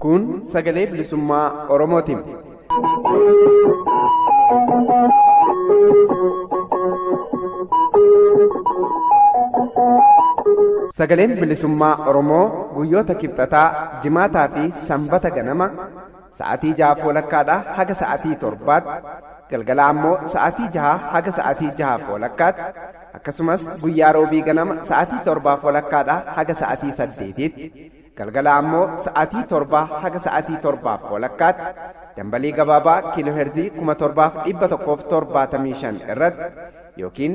Kun sagalee bilisummaa Oromooti. Sagaleen bilisummaa Oromoo guyyoota kibxataa, jimaataa fi sanbata ganama Sa'atii jahaaf walakkaadhaa haga sa'atii torbaatti, galgala ammoo sa'atii jahaa haga sa'atii jahaaf walakkaatti, akkasumas guyyaa roobii ganama sa'atii torbaaf walakkaadhaa haga sa'atii saddeetiitti, galgala ammoo sa'atii torbaa haga sa'atii torbaaf walakkaatti, dambalii gabaabaa kiilooherzii 7175 irratti yookiin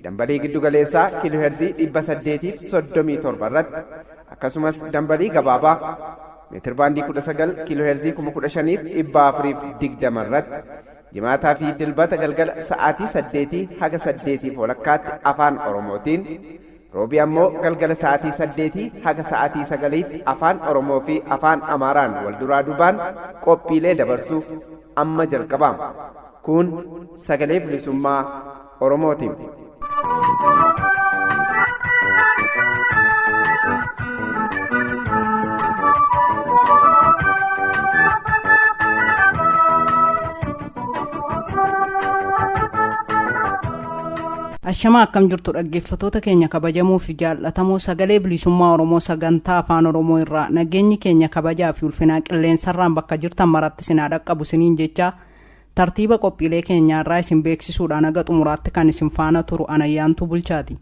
dambalii giddugaleessaa kiilooherzii 837 irratti akkasumas dambalii gabaabaa meetir baandii 19 kiilooheerzii 15420 irratti jimaataa fi dilbata galgala sa'aatii 8 haga 8 walakkaatti afaan oromootiin roobii ammoo galgala sa'aatii 8 haga sa'aatii 9tti afaan oromoo fi afaan amaaraan wal duraa dubaan qophiilee dabarsuuf amma jalqabaama kun sagalee bilisummaa oromootiif. Ashamaa akkam jirtu dhaggeeffatoota keenya kabajamoo fi jaallatamoo sagalee bilisummaa Oromoo sagantaa afaan Oromoo irraa nageenyi keenya kabajaa fi ulfinaa qilleensarraan bakka jirtan maratti sinaa dhaqqabu siniin jechaa Tartiiba qophiilee keenyaa irraa isin beeksisuudhaan haga xumuraatti kan isin faana turu an Ayyaantuu Bulchaati.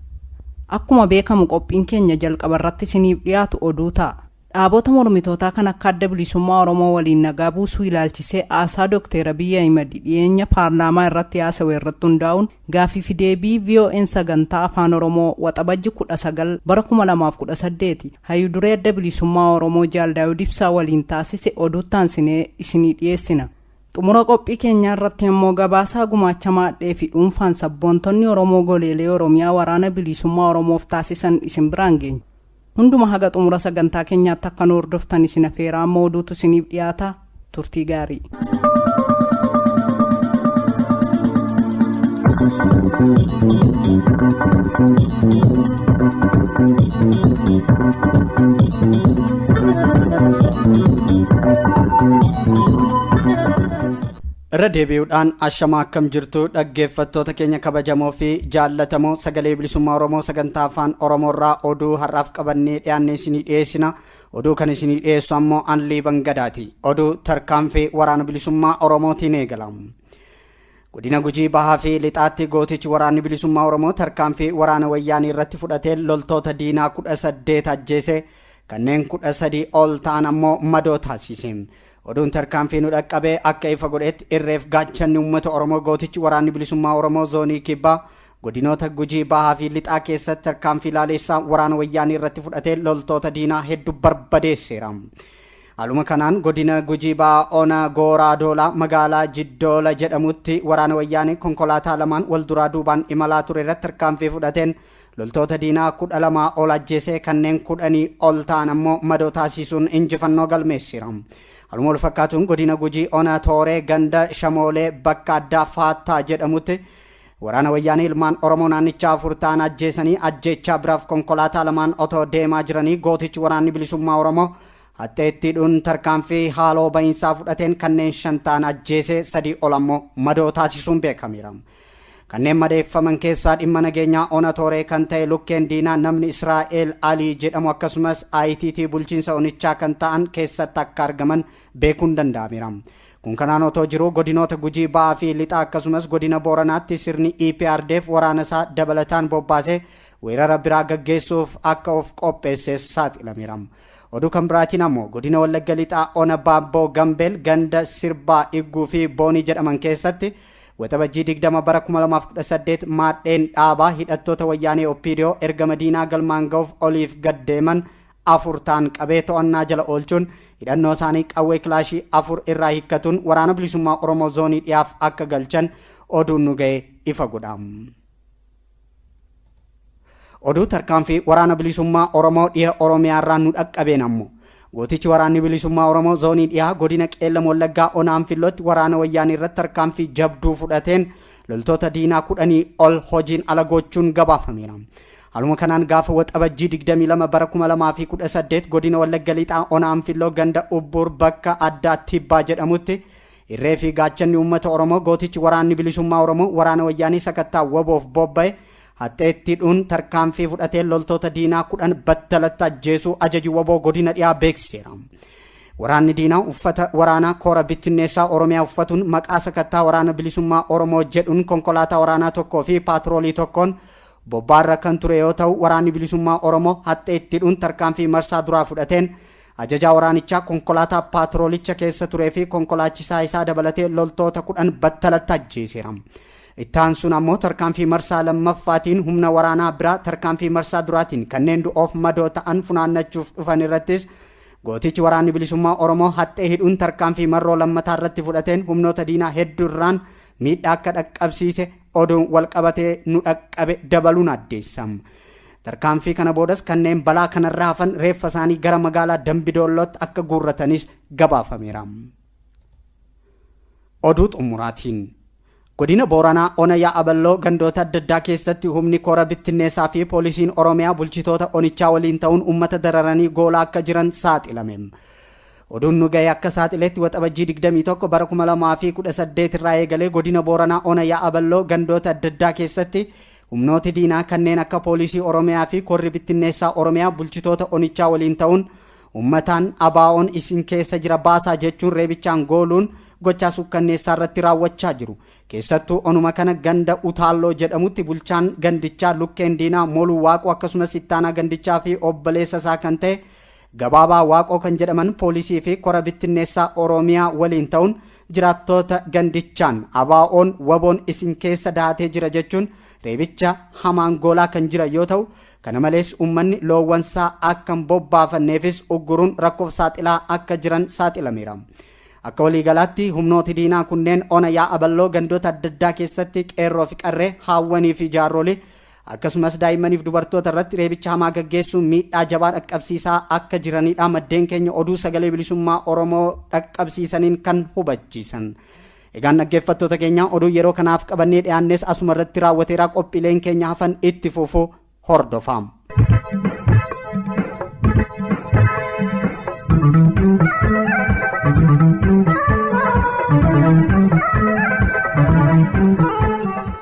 Akkuma beekamu qophiin keenya jalqaba irratti isiniif dhiyaatu oduu ta'a. Dhaabota mormitootaa kan akka Adda Bilisummaa Oromoo waliin nagaa buusuu ilaalchisee haasaa Dookteer Abiy Ahimad dhiyeenya paarlaamaa irratti haasawe irratti hundaa'uun gaafii fi deebii VOAn sagantaa Afaan Oromoo Waxabajji 19 bara 2018 hayyu duree Adda Bilisummaa Oromoo Jaal Daawud Ibsaa waliin taasise oduutti aansinee isinii dhiyeessina. Xumura qophii keenyaa irratti immoo gabaasaa gumaacha maadhee fi dhuunfaan sabboontonni Oromoo goleelee Oromiyaa waraana bilisummaa Oromoof taasisan isin biraan geenya. Hunduma haga xumura sagantaa keenyaatti akka nu hordoftan isin afeeraa amma oduutu isiniif dhiyaata turtii gaarii. irra deebi'uudhaan ashamaa akkam jirtu dhaggeeffattoota keenya kabajamoo fi jaallatamoo sagalee bilisummaa oromoo sagantaa afaan oromoo irraa oduu har'aaf qabannee dhiyaanne isinii dhiyeessina oduu kan isinii dhiyeessu ammoo anlii bangadaati oduu tarkaanfii waraana bilisummaa oromootiin eegala Godina Gujii Bahaa fi Lixaatti gootichi waraanni bilisummaa Oromoo tarkaanfii waraana wayyaanii irratti fudhatee loltoota diinaa kudha saddeet ajjeese kanneen kudha sadii ol ta'an ammoo madoo taasise. Oduun tarkaanfii nu dhaqqabee akka ifa godhetti irreef gaachanni uummata Oromoo gootichi waraanni bilisummaa Oromoo zoonii kibbaa godinoota Gujii Bahaa fi Lixaa keessatti tarkaanfii laaleessaa waraana wayyaanii irratti fudhatee loltoota diinaa hedduu barbadeesseera. Haaluma kanaan godina Gujii Ba'aa Ona Gooraa Doolaa magaalaa Jiddoola jedhamutti waraana wayyaanee konkolaataa lamaan wal duraa duubaan imalaa ture irratti tarkaanfii fudhateen loltoota diinaa kudha lamaa ol ajjeesee kanneen kudhanii ol ta'an ammoo madoo taasisuun injifannoo galmeessira. Haaluma wal fakkaatuun godina Gujii Ona Tooree ganda Shamoolee bakka addaa Faattaa jedhamutti waraana wayyaanee ilmaan Oromoo naannichaa afur ta'an ajjeesanii ajjeechaa biraaf konkolaataa lamaan otoo deemaa jiranii gootichi waraanni bilisummaa Oromoo Hattee itti hidhuun tarkaanfii haaloo ba'iinsaa fudhateen kanneen shan ta'an ajjeesee sadii ol ammoo madoo taasisuun beekameera. Kanneen madeeffaman keessaa dhimma nageenyaa ona Tooree kan ta'e lukkeen diinaa namni Israa'eel Alii jedhamu akkasumas ITT bulchiinsa onichaa kan ta'an keessatti akka argaman beekuun danda'ameera. Kun kanaan otoo jiruu godinoota Gujii Ba'aa fi Lixaa akkasumas godina Booranaatti sirni EPRDF waraanasaa dabalataan bobbaasee weerara biraa gaggeessuuf akka of qopheesses saaxilameera. Oduu kan biraatiin ammoo godina Wallagga Lixaa Ona Baabboo Gambeel ganda Sirbaa Igguu fi Boonii jedhaman keessatti waxabajjii 20 bara 2018 maadheen dhaabaa hidhattoota wayyaanee Oppiidiyoo ergama diinaa galmaan ga'uuf oliif gad deeman afur ta'an qabee to'annaa jala oolchuun hidhannoo isaanii qawwee kilaashii afur irraa hiikkatuun waraana bilisummaa Oromoo zoonii dhiyaaf akka galchan oduun nu ga'e ifa godha. Oduu tarkaanfii waraana bilisummaa Oromoo dhiha Oromiyaa irraa nu dhaqqabeen ammoo gootichi waraanni bilisummaa Oromoo zoonii dhihaa godina Qeellam Wallaggaa Onaan Fillootti waraana wayyaanii irratti tarkaanfii jabduu fudhateen loltoota diinaa kudhanii ol hojiin ala gochuun gabaafameera. Haaluma kanaan gaafa waxabajjii 22 bara 2018 godina Wallagga Lixaa Onaan Filloo ganda Ubbuur bakka addaa Tibbaa jedhamutti Irree fi gaachanni uummata Oromoo gootichi waraanni bilisummaa Oromoo waraana wayyaanii sakattaa waboof bobba'e haxxeetti dhuun tarkaanfii fudhatee loltoota diinaa kudhan battalatti ajjeesuu ajaji waboo godina dhiyaa beeksiseera. Waraanni diinaa uffata waraanaa koora bittinneessaa Oromiyaa uffatuun maqaa sakattaa waraana bilisummaa Oromoo jedhuun konkolaataa waraanaa tokkoo fi paatiroolii tokkoon bobbaarra kan ture yoo ta'u waraanni bilisummaa Oromoo haxxeetti dhuun tarkaanfii marsaa duraa fudhateen Ajajaa waraanichaa konkolaataa paatroolicha keessa turee fi konkolaachisaa isaa dabalatee loltoota kudhan battalatti ajjeeseera. Itti aansuun ammoo tarkaanfii marsaa lammaffaatiin humna waraanaa biraa tarkaanfii marsaa duraatiin kanneen du'oof madoo ta'an funaannachuuf dhufan irrattis gootichi waraanni bilisummaa Oromoo haxxee hidhuun tarkaanfii marroo lammataa irratti fudhateen humnoota diinaa hedduu irraan miidhaa akka dhaqqabsiise oduun walqabatee nu dhaqqabe dabaluun addeessa. Tarkaanfii kana boodas kanneen balaa kanarra hafan reeffa isaanii gara magaalaa Dambi Doollootti akka guurratanis gabaafameera. Oduu xumuraatiin Godina Booranaa Ona Yaa'aballoo gandoota adda addaa keessatti humni koora bittinneessaa fi poolisiin Oromiyaa bulchitoota onichaa waliin ta'uun uummata dararanii goolaa akka jiran saaxilame. Oduun nu ga'e akka saaxiletti waxabajjii 21 bara 2018 irraa eegalee godina Booranaa Ona Yaa'aballoo gandoota adda addaa keessatti Humnooti diinaa kanneen akka Poolisii Oromiyaa fi Korri Bittinneessaa Oromiyaa bulchitoota onichaa waliin ta'uun ummataan ABOn isin keessa jira baasaa jechuun reebichaan gooluun gochaa suukkanneessaa irratti raawwachaa jiru. Keessattuu onuma kana ganda Utaalloo jedhamutti bulchaan gandichaa Lukkeen Diinaa Moluu Waaqoo akkasumas ittaanaa gandichaa fi obboleessa isaa kan ta'e Gabaabaa Waaqoo kan jedhaman poolisii fi kora bittinneessaa Oromiyaa waliin ta'uun jiraattoota gandichaan ABO'n waboon isin keessa dahatee jira jechuun reebicha hamaan goolaa kan jiran yoo ta'u kana malees uummanni loowwansaa akka hin bobbaafanneefis ugguruun rakkoof saaxilaa akka jiran saaxilameera. Akka waliigalaatti humnooti diinaa kunneen ona yaa'a balloo gandoota adda addaa keessatti qeerroo fi qarree haawwanii fi jaarrolii Akkasumas daa'immaniif dubartoota irratti reebicha hamaa gaggeessuun miidhaa jabaa dhaqqabsiisaa akka jiranidha maddeen keenya oduu sagalee bilisummaa Oromoo dhaqqabsiisaniin kan hubachiisan. Egaan dhaggeeffattoota keenya oduu yeroo kanaaf qabannee dhiyaannes asuma irratti raawwateera qophiileen keenya hafan itti fufu hordofaa.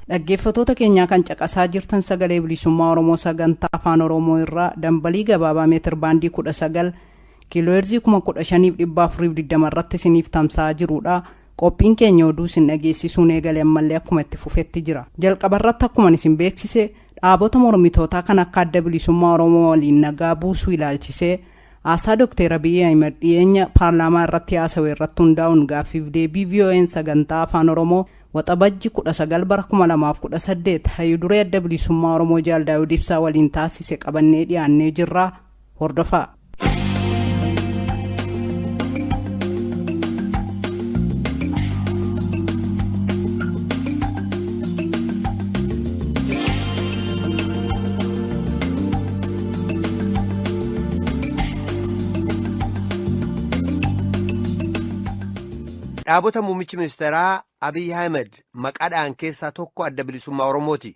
Dhaggeeffatoota keenyaa kan caqasaa jirtan sagalee bilisummaa Oromoo sagantaa afaan Oromoo irraa dambalii gabaabaa meetir baandii 19 kiilooheerzii 15,420 irratti isiniif tamsa'aa jirudha. Qophiin keenya oduu isin dhageessisuun eegale ammallee akkuma itti fufetti jira. Jalqaba irratti akkuma isin beeksise dhaabota mormitootaa kan akka adda bilisummaa Oromoo waliin nagaa buusuu ilaalchisee Haasaa Dokteer Abiy Ahimad dhiyeenya paarlaamaa irratti haasawe irratti hundaa'uun gaaffiif deebii VOAn sagantaa Afaan Oromoo Waxabajji 19 bara 2018 Hayyu Duree Adda Bilisummaa Oromoo Jaal Daawud Ibsaa waliin taasise qabannee dhiyaannee jirra. Hordofaa. Dhaabota muummichi ministeeraa Abiy Ahmed maqaadhaan keessaa tokko adda bilisummaa Oromooti.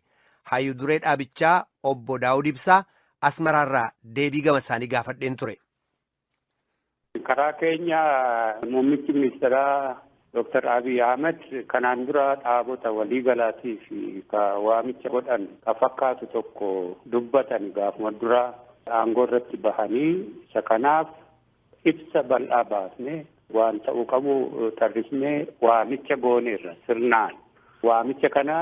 Hayyuu duree dhaabichaa obbo Daawud Ibsaa Asmaraarraa deebii gama isaanii gaafadheen ture. Karaa keenya muummichi ministeeraa Dooktar Abiy Ahmed kanaan dura dhaabota waliigalaatii fi ka waamicha godhan ka fakkaatu tokko dubbatan gaafuma dura aangoo irratti bahanii isa kanaaf ibsa bal'aa baasne Waan ta'uu qabu tarrisnee waamicha gooneerra sirnaan. Waamicha kana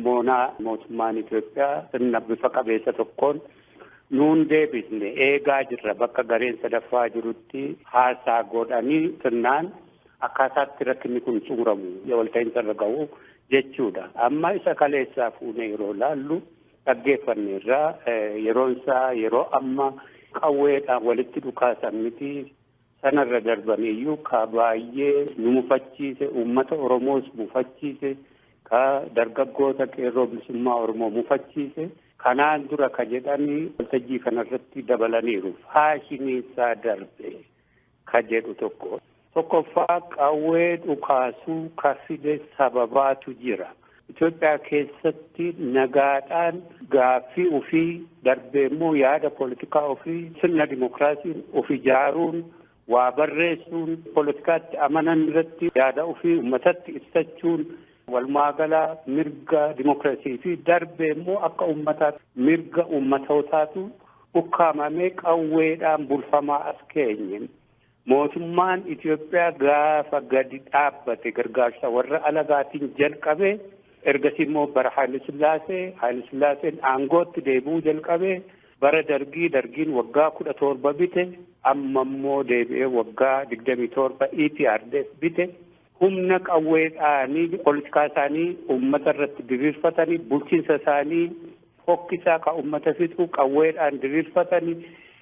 moonaa mootummaan Itoophiyaa sirna bifa qabeessa tokkoon nuun deebisne eegaa jirra bakka gareen sadaffaa jirutti haasaa godhanii sirnaan akkaataatti rakkinni kun xumuramu walta'iinsa irra ga'u jechuudha. Amma isa kaleessaa fuunee yeroo laallu dhaggeeffanneerra yeroon isaa yeroo amma qawweedhaan walitti dhukaasan miti. Sanarra darbaneeyyuu ka baayyee nu mufachiise, uummata Oromoos mufachiise, ka dargaggoota Qeerroo Bilisummaa Oromoo mufachiise, kanaan dura ka jedhan waltajjii kanarratti dabalaniiru. Faashiniinsaa darbe ka jedhu tokko. Tokkoffaa qawwee dhukaasuu ka fide sababaatu jira. Itoophiyaa keessatti nagaadhaan gaaffii ofii darbee immoo yaada poolitikaa ofii sirna dimookiraasiin of ijaaruun waa barreessuun poolitikaatti amanan irratti yaada ofii uummatatti ibsachuun walumaa gala mirga dimookiraasii fi darbee immoo akka uummataa mirga uummatootaatu ukkaamamee qawweedhaan bulfamaa as keenye. Mootummaan Itoophiyaa gaafa gadi dhaabbate gargaarsa warra alagaatiin jalqabe ergasii immoo bara Haayile Sillaasee Haayile Sillaaseen aangootti deebi'uu jalqabe bara dargii dargiin waggaa kudha torba bite amma immoo deebi'ee waggaa digdamii torba EPRDF bite humna qawweedhaanii politikaa isaanii ummata irratti diriirfatanii bulchiinsa isaanii fokkisaa ka ummata fixu qawweedhaan diriirfatanii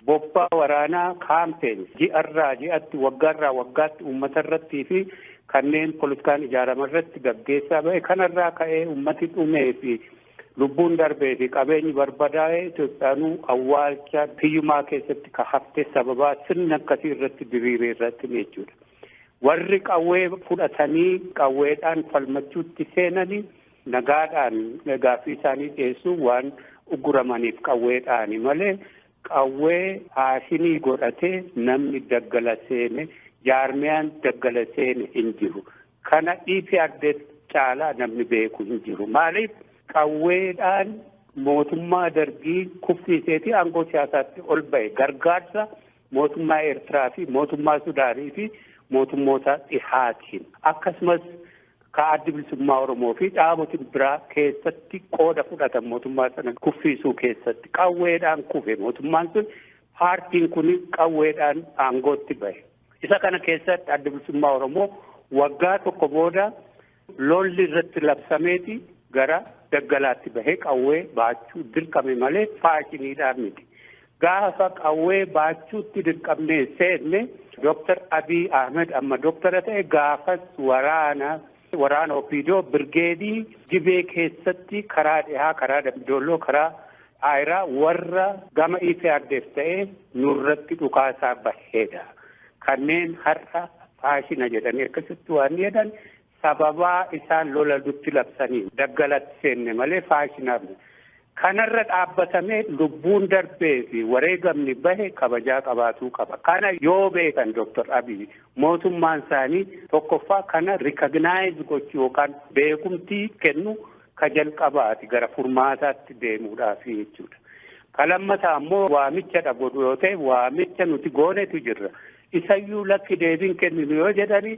bobbaa waraanaa kaampeen ji'arraa ji'atti waggaarraa waggaatti ummata irrattii fi kanneen politikaan ijaarama irratti gaggeessaa ba'e kanarraa ka'ee ummati dhumee fi lubbuun darbee fi qabeenyi barbadaa'ee Itoophiyaanuu awwaalcha hiyyumaa keessatti ka hafte sababaa sirni akkasii irratti diriiree irratti jechuudha. Warri qawwee fudhatanii qawweedhaan falmachuutti seenani nagaadhaan gaaffii isaanii dhiyeessuun waan uguramaniif qawweedhaani malee qawwee faashinii godhatee namni daggala seene jaarmiyaan daggala seene hin jiru. Kana EPRDF caalaa namni beeku hin jiru. Maaliif qawweedhaan mootummaa dargii kuffiiseetii aangoo siyaasaatti ol ba'e gargaarsa Mootummaa Eertiraa fi mootummaa Sudaanii fi mootummoota dhihaatiin akkasumas ka addi bilisummaa Oromoo fi dhaaboti biraa keessatti qooda fudhatan mootummaa sana kuffiisuu keessatti qawweedhaan kufe mootummaan sun paartiin kun qawweedhaan aangootti bahe. Isa kana keessatti addi bilisummaa Oromoo waggaa tokko booda Lolli irratti labsameeti gara daggalaatti bahee qawwee baachuu dirqame malee faashiniidhaan miti. Gaafa qawwee baachuutti dirqamnee seenne Dooktar Abiy Ahmed amma dooktara ta'e gaafas waraana waraana Opiidoo birgeedii Gibee keessatti karaa dhihaa karaa Dambidolloo karaa Aayraa warra gama EPRDF ta'ee nurratti dhukaasaa baheedha. Kanneen har'a faashina jedhanii akkasitti waan jedhan sababaa isaan lola dutti labsanii daggalatti seenne malee faashinaaf kanarra dhaabbatamee lubbuun darbee fi wareegamni bahe kabajaa qabaatuu qaba. Kana yoo beekan Dr. Abiy mootummaan isaanii tokkoffaa kana rikagnaayizii gochuu yookaan beekumtii kennu Ka jalqabaati gara furmaataatti deemuudhaafi jechuudha. Ka lammataa ammoo waamichadha godhu yoo ta'e waamicha nuti goonetu jirra. Isayyuu lakki deebiin kenninu yoo jedhani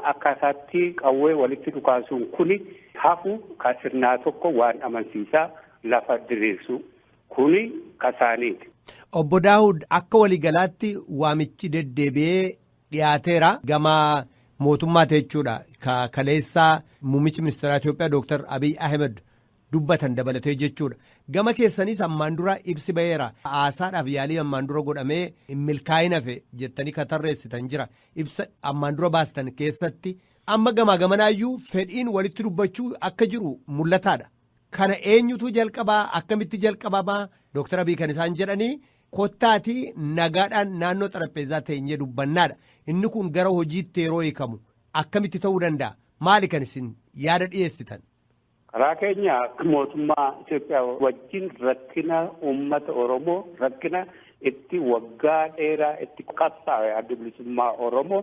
akkaataatti qawwee walitti dhukaasuun kuni hafu ka sirnaa tokko waan amansiisaa lafa diriirsu kuni ka isaaniiti. Obbo Daawud akka waligalaatti waamichi deddeebi'ee dhiyaateera gama mootummaati jechuudha ka kaleessaa muummichi ministeeraa Itoophiyaa Dooktar Abiy Ahmed dubbatan dabalatee jechuudha. Gama keessanis ammaan dura ibsi ba'eera. Haasaadhaaf yaalii ammaan dura godhamee milkaa'ina fe jettanii ka tarreessitan jira. Ibsa ammaan dura baastan keessatti amma gamaa gamanaayyuu fedhiin walitti dubbachuu akka jiru mul'ataadha. Kana eenyutu jalqabaa akkamitti jalqabamaa Dooktar Abiy kan isaan jedhanii Kottaatii nagaadhaan naannoo xarapheezaa teenyee dubbannaadha. Inni kun gara hojiitti yeroo hiikamu akkamitti ta'uu danda'a? Maali kan isin yaada dhiyeessitan? Karaa keenya mootummaa Itoophiyaa wajjin rakkina uummata Oromoo rakkina itti waggaa dheeraa itti qabsaa'e adda bilisummaa Oromoo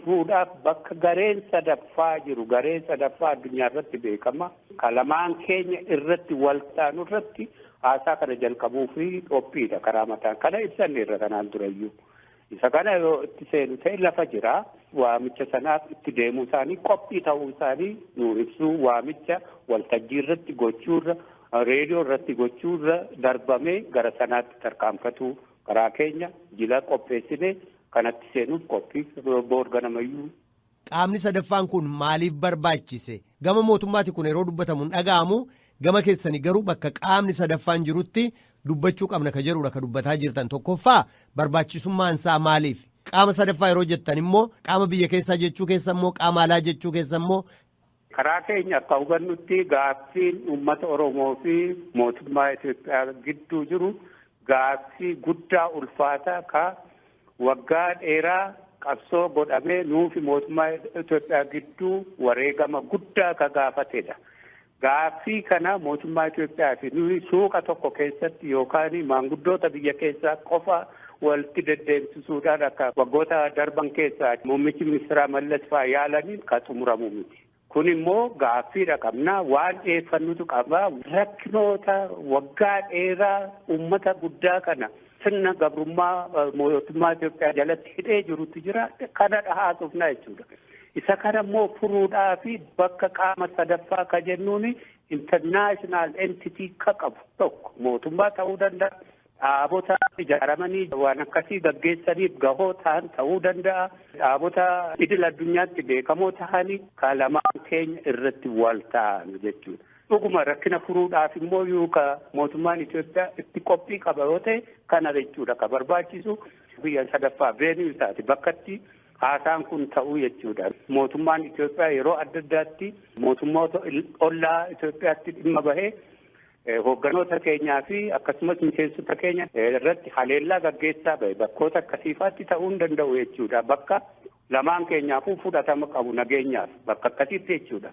fuudhaaf bakka gareen sadaffaa jiru gareen sadaffaa addunyaa irratti beekama. Kalamaan keenya irratti waltaanu irratti Haasaa kana jalqabuufi qophiidha karaa mataan kana ibsanneerra kanaan durayyuu. Isa kana yoo itti seenu ta'e lafa jira. Waamicha sanaaf itti deemuu isaanii qophii ta'uu isaanii nuu ibsuu waamicha waltajjii irratti gochuurra reediyoo irratti gochuurra darbamee gara sanaatti tarkaanfatuu karaa keenya jila qopheessine kanatti seenuuf qophii boor ganamayyuu Qaamni sadaffaan kun maaliif barbaachise? Gama mootummaati kun yeroo dubbatamu hin dhaga'amu. Gama keessanii garuu bakka qaamni sadaffaan jirutti dubbachuu qabna ka jedhudha ka dubbataa jirtan. Tokkoffaa barbaachisummaan isaa maaliif? Qaama sadaffaa yeroo jettan immoo qaama biyya keessaa jechuu keessa immoo qaama alaa jechuu keessa immoo Karaa keenya akka hubannutti gaaffiin uummata Oromoo fi mootummaa Itoophiyaa gidduu jiru gaaffii guddaa ulfaataa ka waggaa dheeraa qabsoo godhamee nuufi mootummaa Itoophiyaa gidduu wareegama guddaa ka gaafatedha. Gaaffii kana mootummaa Itoophiyaa fi nuyi suuqa tokko keessatti yookaan maanguddoota biyya keessaa qofa walitti deddeebisisuudhaan akka waggoota darban keessaa muummichi ministeeraa Mallas fa'aa yaalaniin kan xumuramu miti. Kun immoo gaaffiidha qabna waan dhiyeeffannutu qaba rakkinoota waggaa dheeraa uummata guddaa kana sirna gabrummaa mootummaa Itoophiyaa jalatti hidhee jirutu jira kana dhahaasofnaa jechuudha. Isa kana immoo furuudhaa fi bakka qaama sadaffaa ka jennuun international entity ka qabu tokko mootummaa ta'uu danda'a. Dhaabota ijaaramanii waan akkasii gaggeessaniif gahoo tahan tahuu danda'a. Dhaabota idil addunyaatti beekamoo tahanii ka lamaan keenya irratti wal taanu jechuudha. Dhuguma rakkina furuudhaaf immoo yoo ka mootummaan Itoophiyaa itti qophii qaba yoo ta'e kana jechuudha ka barbaachisu biyya sadaffaa veenuu isaati bakkatti haasaan kun ta'uu jechuudha. Mootummaan Itoophiyaa yeroo adda addaatti mootummoota ollaa Itoophiyaatti dhimma bahee Hoogganoota keenyaa fi akkasumas miseensota keenya irratti haleellaa gaggeessaa bahe bakkoota akkasiifaatti ta'uu hin danda'u jechuudha. Bakka lamaan keenyaafuu fudhatama qabu nageenyaaf bakka akkasiitti jechuudha.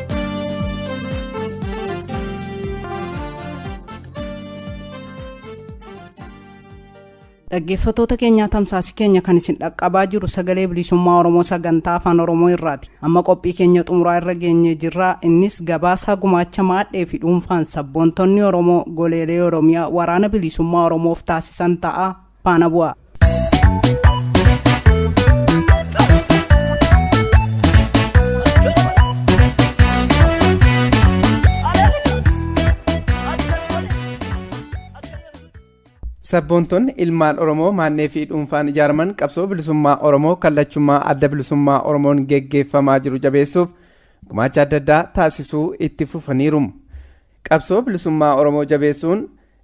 dhaggeeffatoota keenyaa tamsaasi keenya kan isin dhaqqabaa jiru sagalee bilisummaa oromoo sagantaa afaan oromoo irraati amma qophii keenya xumuraa irra geenyee jirra innis gabaasaa gumaacha maadhee fi dhuunfaan sabboontonni oromoo goleelee oromiyaa waraana bilisummaa oromoof taasisan ta'a faana bu'aa. Sabboontonni ilmaan Oromoo maannee fi dhuunfaan ijaaraman qabsoo bilisummaa Oromoo kallachummaa adda bilisummaa Oromoon geggeeffamaa jiru jabeessuuf gumaacha adda addaa taasisuu itti fufaniiru. Qabsoo bilisummaa Oromoo jabeessuun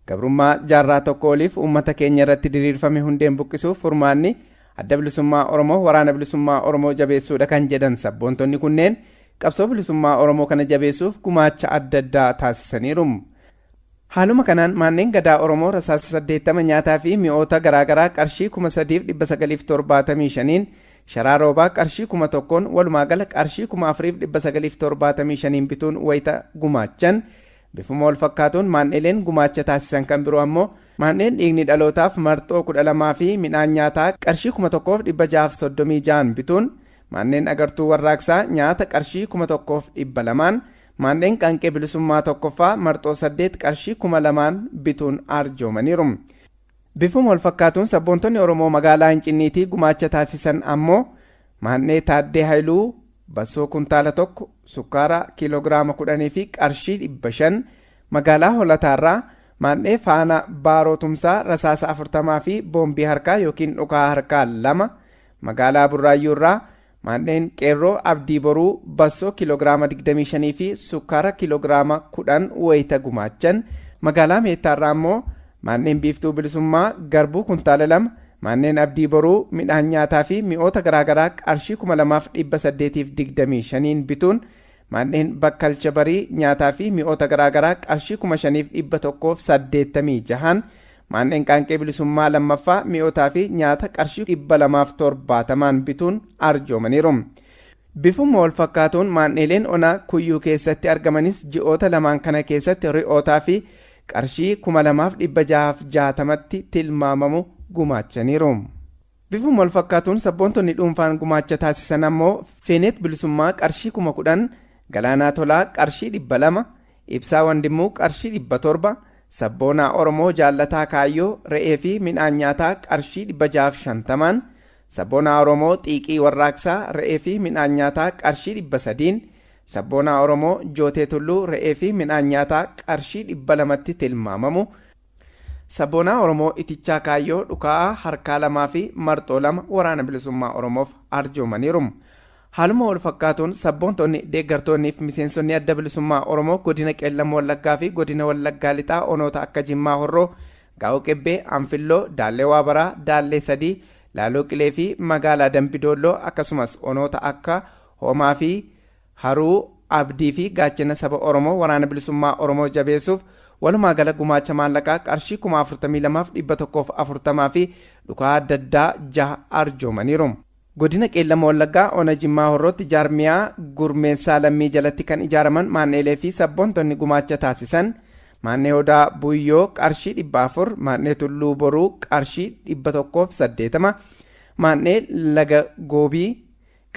Gabrummaa jaarraa tokko oliif uummata keenya irratti diriirfame hundeen buqqisuuf furmaanni Adda Bilisummaa Oromoo Waraana Bilisummaa Oromoo jabeessuudha kan jedhan sabboontonni kunneen qabsoo bilisummaa Oromoo kana jabeessuuf gumaacha adda addaa taasisaniiru. Haaluma kanaan manneen gadaa Oromoo rasaasa 80 nyaataa fi mi'oota garaagaraa qarshii 3975n sharaa roobaa qarshii 1000n walumaa gala qarshii 4975n bituun wayita gumaachan Bifuma walfakkaatuun maandheeleen gumaacha taasisan kan biroo ammoo maandheen dhiigni dhalootaaf marxoo 12 fi midhaan nyaataa qarshii 1636n bituun, maandheen agartuu warraaqsaa nyaata qarshii 1200n, maandheen qaanqee bilisummaa 1ffaa marxoo 8 qarshii 2000n bituun arjoomaniiru. Bifuma walfakkaatuun sabboontonni Oromoo magaalaa Incinniitii gumaacha taasisan ammoo maandhee Taaddee Hayiluu, Bassoo kuntaala tokko, sukkaara kiiloogiraama kudhanii fi qarshii dhibba shan magaalaa Holataarraa maandhee faana Baaroo Tumsaa rasaasa afurtamaa fi boombii harkaa yookiin dhukaa harkaa lama magaalaa Burraayyuurraa maandheen qeerroo Abdii Boruu bassoo kiiloogiraama digdamii shanii fi sukkaara kiiloogiraama kudhan wayita gumaachan magaalaa Meettaarraa immoo Manneen Biiftuu Bilisummaa garbuu kuntaala lama, Manneen Abdii Boruu midhaan nyaataa fi mi'oota garaagaraa qarshii 2825n bituun, Manneen Bakkalcha Barii nyaataa fi mi'oota garaagaraa qarshii 5186n, Manneen Qaanqee Bilisummaa 2ffaa mi'ootaa fi nyaata qarshii 270n bituun arjoomaniiru. Bifuma walfakkaatuun maandheeleen onaa Kuyyuu keessatti argamanis ji'oota lamaan kana keessatti ri'ootaafi qarshii 2660tti tilmaamamu gumaachaniiru. Bifuma walfakkaatuun sabboontonni dhuunfaan gumaacha taasisan ammoo Feeneet Bilisummaa qarshii 10,000, Galaanaa Tolaa qarshii 200, Ibsaa Wandimmuu qarshii 700, Sabboonaa Oromoo Jaallataa Kaayyoo re'eefi midhaan nyaataa qarshii 650n, Sabboonaa Oromoo xiiqii warraaqsaa re'ee fi midhaan nyaataa qarshii 300n, Sabboonaa Oromoo Jootee Tulluu re'ee fi midhaan nyaataa qarshii 200tti tilmaamamu, Sabboonaa Oromoo Itichaa Kaayyoo dhukaa'aa harkaa lamaa fi marxoo lama Waraana Bilisummaa Oromoof arjoomaniiru. Haaluma wal fakkaatuun sabboontonni, deeggartoonnii fi miseensonni Adda Bilisummaa Oromoo Godina Qeellam Wallaggaa fi Godina Wallaggaa Lixaa Onoota akka Jimmaa Horroo, Gaa'oo Qebbee, Anfilloo, Daallee Waabaraa, Daallee Sadii, Laaloo Qilee fi magaalaa Dambi Doolloo akkasumas onoota akka Hoomaa fi Haruu, Abdii fi Gaachena saba Oromoo Waraana Bilisummaa Oromoo jabeessuuf walumaa gala gumaacha maallaqaa qarshii 42,140 fi dhukaa adda addaa jaha arjoomaniiru. Godina Qeellama Wallaggaa Ona Jimmaa Horrootti jaarmiyaa gurmeessaa lammii jalatti kan ijaaraman maan'eelee fi sabboontonni gumaacha taasisan maan'ee Odaa Buyyoo qarshii 400, maan'ee Tulluu Boruu qarshii 180, maan'ee Laga Goobii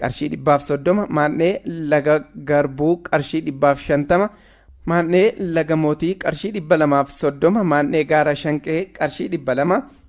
qarshii 130, maan'ee Laga Garbuu qarshii 150, maan'ee Laga Mootii qarshii 230, maan'ee Gaara Shanqee qarshii 200,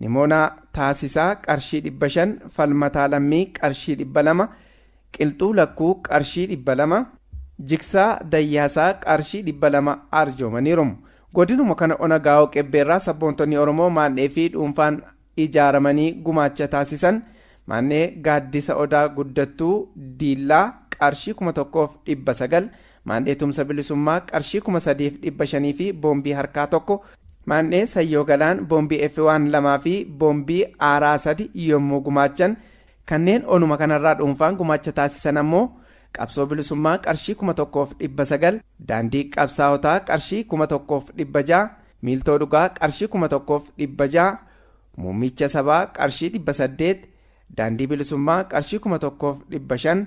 Nimoonaa Taasisaa qarshii 500 Falmataa Lammii qarshii 200 Qilxuu Lakkuu qarshii 200 Jigsaa Dayyaasaa qarshii 200 arjoomaniiru. Godinuma kana Ona Gaawoo Qebbeerraa sabboontonni Oromoo maandhee fi dhuunfaan ijaaramanii gumaacha taasisan maandhee Gaaddisa Odaa Guddattuu, Diillaa, qarshii 1900, Maandhee Tumsa Bilisummaa qarshii 3500 fi boombii harkaa tokko, Maandhee Sayyoo Galaan boombii F1 lamaa fi boombii aaraa sadi yommuu gumaachan, kanneen onuma kanarraa dhuunfaan gumaacha taasisan ammoo Qabsoo Bilisummaa qarshii 1900, Daandii Qabsaawotaa qarshii 1600, Miiltoo Dhugaa qarshii 1600, Muummicha Sabaa qarshii 800, Daandii Bilisummaa qarshii 1500,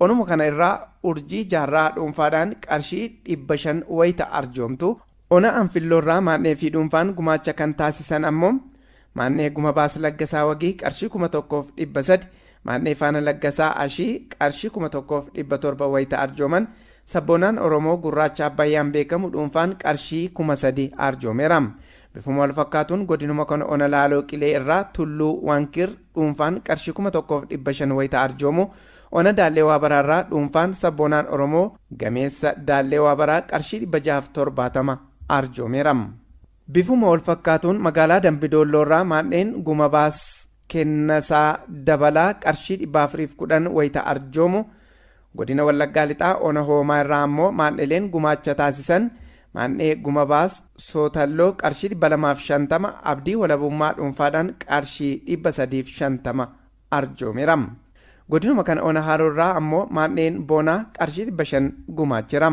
Onuma kana irraa urjii jaarraa dhuunfaadhaan qarshii 500 wayita arjoomtu, ona Anfilloorraa Maannee fi dhuunfaan gumaacha kan taasisan ammoo, Maannee Gumabaas Laggasaa Wagii qarshii 1300, Maannee Faana Laggasaa Ashii qarshii 1700 wayita arjooman, Sabboonaan Oromoo Gurraacha Abbayyaan beekamu dhuunfaan qarshii 3000 arjoomeera. Bifuma walfakkaatuun godinuma kana ona Laaloo Qilee irraa Tulluu Wankir dhuunfaan qarshii 1500 wayita arjoomu, ona Daallee Waabaraa irraa dhuunfaan sabboonaan Oromoo gameessa Daallee Waabaraa qarshii 670 arjoomeera. Bifuma walfakkaatuun magaalaa Dambi Doolloo irraa maadheen Guma Baas, Kennasaa Dabalaa qarshii 410 wayita arjoomu, Godina Wallaggaa Lixaa Ona Hoomaa irraa ammoo maandheleen gumaacha taasisan, Maandhee Gumabaas Sootalloo qarshii 250, Abdii Walabummaa dhuunfaadhaan qarshii 350 arjoomeera. Godinuma kana Ona Haroo irraa ammoo maandheen Boonaa qarshii 500 gumaacheera.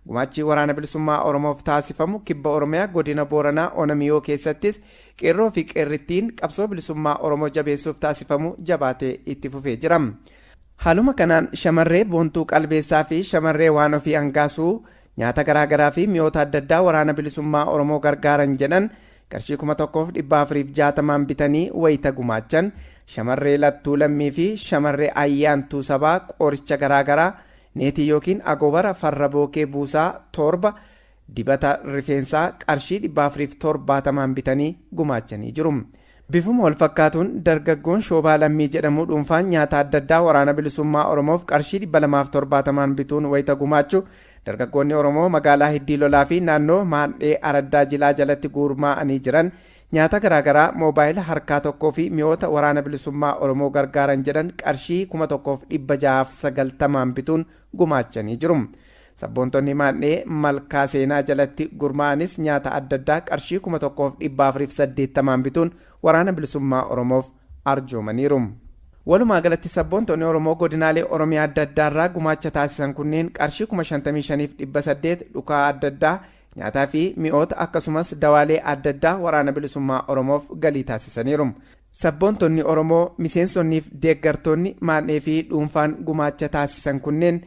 Gumaachi Waraana Bilisummaa Oromoof taasifamu Kibba Oromiyaa Godina Booranaa Ona Miyoo keessattis Qeerroo fi Qeerrittiin qabsoo bilisummaa Oromoo jabeessuuf taasifamu jabaatee itti fufee jira. Haaluma kanaan shamarree Boontuu Qalbeessaa fi shamarree Waan Ofii Angaasuu nyaata garaagaraa fi mi'oota adda addaa waraana bilisummaa Oromoo gargaaran jedhan qarshii 1460n bitanii wayita gumaachan shamarree Lattuu Lammii fi shamarree Ayyaantuu Sabaa qoricha garaagaraa neetii yookiin agoobara farra bookee buusaa torba Dibata rifeensaa qarshii 470n bitanii gumaachanii jiru. Bifuma walfakkaatuun dargaggoon Shoobaa Lammii jedhamu dhuunfaan nyaata adda addaa Waraana Bilisummaa Oromoof qarshii 270n bituun wayita gumaachu dargaggoonni Oromoo magaalaa Hiddii Lolaa fi naannoo Maandhee Araddaa Jilaa jalatti guurmaa'anii jiran nyaata garaagaraa moobaayila harkaa tokkoo fi mi'oota Waraana Bilisummaa Oromoo gargaaran jedhan qarshii 1690n bituun gumaachanii jiru. Sabboontonni Maandhee Malkaa Seenaa jalatti gurmaa'anis nyaata adda addaa qarshii 1480n bituun Waraana Bilisummaa Oromoof arjoomaniiru. Walumaa galatti sabboontonni Oromoo godinaalee Oromiyaa adda addaarraa gumaacha taasisan kunneen qarshii 55,800 dhukaa adda addaa, nyaataa fi mi'oota akkasumas dawaalee adda addaa Waraana Bilisummaa Oromoof galii taasisaniiru. Sabboontonni Oromoo miseensonniif deeggartoonni maadhee fi dhuunfaan gumaacha taasisan kunneen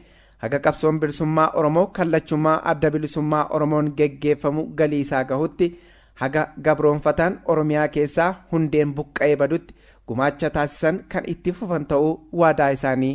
haga qabsoon bilisummaa Oromoo kallachumaa adda bilisummaa Oromoon geggeeffamu galii isaa gahutti haga gabroonfataan Oromiyaa keessaa hundeen buqqa'ee badutti gumaacha taasisan kan itti fufan ta'uu waadaa isaanii